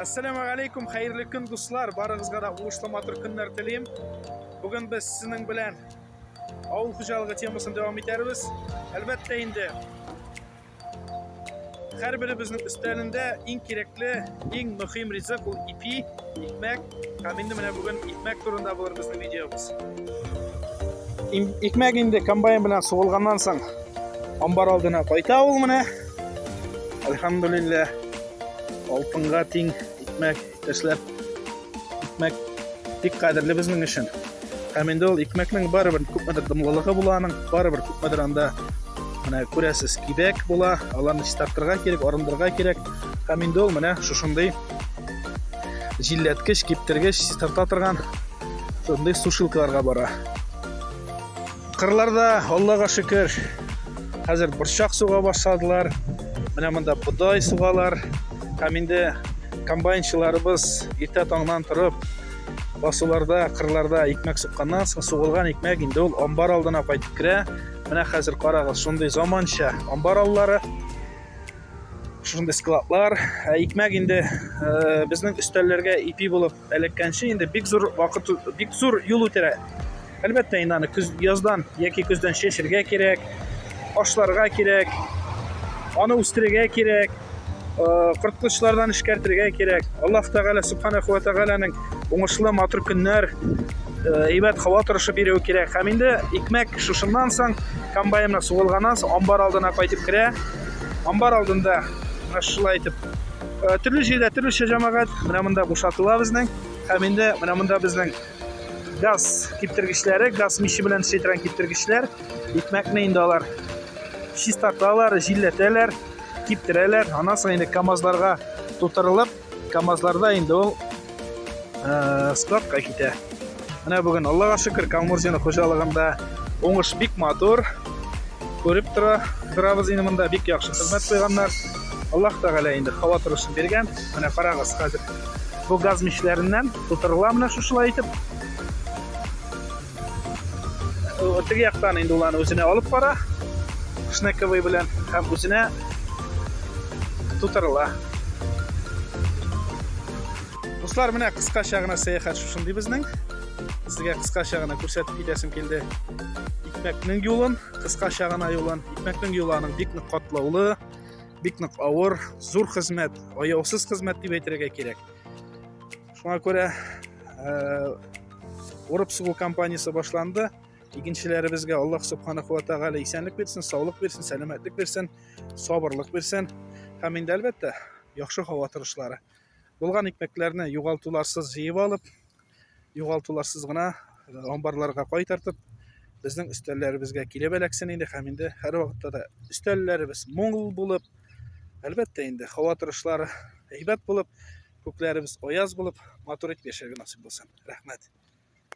Ассаламу алейкум, хәерле көн, дуслар! Барыгызга да уңышлы матур көннәр телим. Бүген без сезнең белән авыл хуҗалыгы темасын дәвам итәрбез. Әлбәттә инде һәрберебезнең өстәлендә иң кирәкле, иң мөһим ризык ул ипи, икмәк. Һәм инде менә бүген икмәк турында булыр безнең видеобыз. Икмәк инде комбайн белән сугылганнан соң амбар алдына кайта ул менә. Альхамдулиллах. Алтынга тиң икмәк эшләп, икмәк бик кадерле безнең өчен. Һәм инде ул икмәкнең барыбер күпмедер дымлылыгы була аның, барыбер күпмедер анда менә күрәсез кибәк була, аларны чистартырга кирәк, арындырырга кирәк. Һәм инде ул менә шушындый җилләткеч, киптергеч, чистарта торган шундый сушилкаларга бара. Кырларда, Аллага шөкер, хәзер борчак суга башладылар. Менә монда бодай сугалар. Һәм инде комбайнчыларыбыз иртә таңнан торып, басуларда, кырларда икмәк сукканнан соң, сугылган икмәк инде ул амбар алдына кайтып керә. Менә хәзер карагыз, шундый заманча амбар аллары шундый складлар ә икмәк инде э, безнең өстәлләргә ипи булып Элеккәнче инде бик зур вакыт, бик зур юл үтә. Әлбәттә, инде аны көз, яздан яки көздән чәчергә кирәк, ашларга кирәк, аны үстерергә кирәк, э, корткычлардан эшкәртергә кирәк. Аллаһ Тәгалә Субханаху ва Тәгаләнең уңышлы матур көннәр, э, әйбәт һава торышы бирүе кирәк. Һәм инде икмәк шушыннан соң комбайнына сугылганнан соң амбар алдына кайтып керә. Амбар алдында шулай итеп Э, төрле җирдә төрлечә җәмәгать менә монда бушатыла безнең һәм инде менә монда безнең газ киптергечләре газ миче белән эшләйтелгән киптергечләр икмәкне инде алар чистарталар җилләтәләр киптерәләр аннан соң инде камазларга тутырылып камазларда инде ул ә, складка китә. Менә бүген Аллага шөкер, Камурзина хуҗалыгында уңыш бик матур. Күреп тора, торабыз инде монда бик яхшы хезмәт куйганнар. Аллаһ Тәгалә инде һава торышын биргән. Менә карагыз хәзер. Бу газ мичләреннән тутырыла менә шушылай итеп. Теге яктан инде уланы үзенә алып бара. Шнековый белән һәм үзенә тутырыла. Дуслар, менә кыскача гына сәяхәт шушындый безнең. Сезгә кыскача гына күрсәтеп китәсем килде. Икмәкнең юлын, кыскача гына юлын. Икмәкнең юлы аның бик нык катлаулы, бик нык авыр, зур хезмәт, аяусыз хезмәт дип әйтергә кирәк. шуңа күрә урып сугу кампаниясе башланды икенчеләребезгә аллаһ субханаху ва тәгалә исәнлек бирсен саулык бирсен сәламәтлек бирсен сабырлык бирсен һәм инде әлбәттә яхшы һава торышлары булган икмәкләрне югалтуларсыз җыеп алып югалтуларсыз гына амбарларга кайтартып безнең өстәлләребезгә килеп эләксен инде һәм инде һәрвакытта да өстәлләребез мул булып әлбәттә инде һава торышлары әйбәт булып Күкләребез аяз булып, матур итеп яшәргә насыйп булсын. Рәхмәт.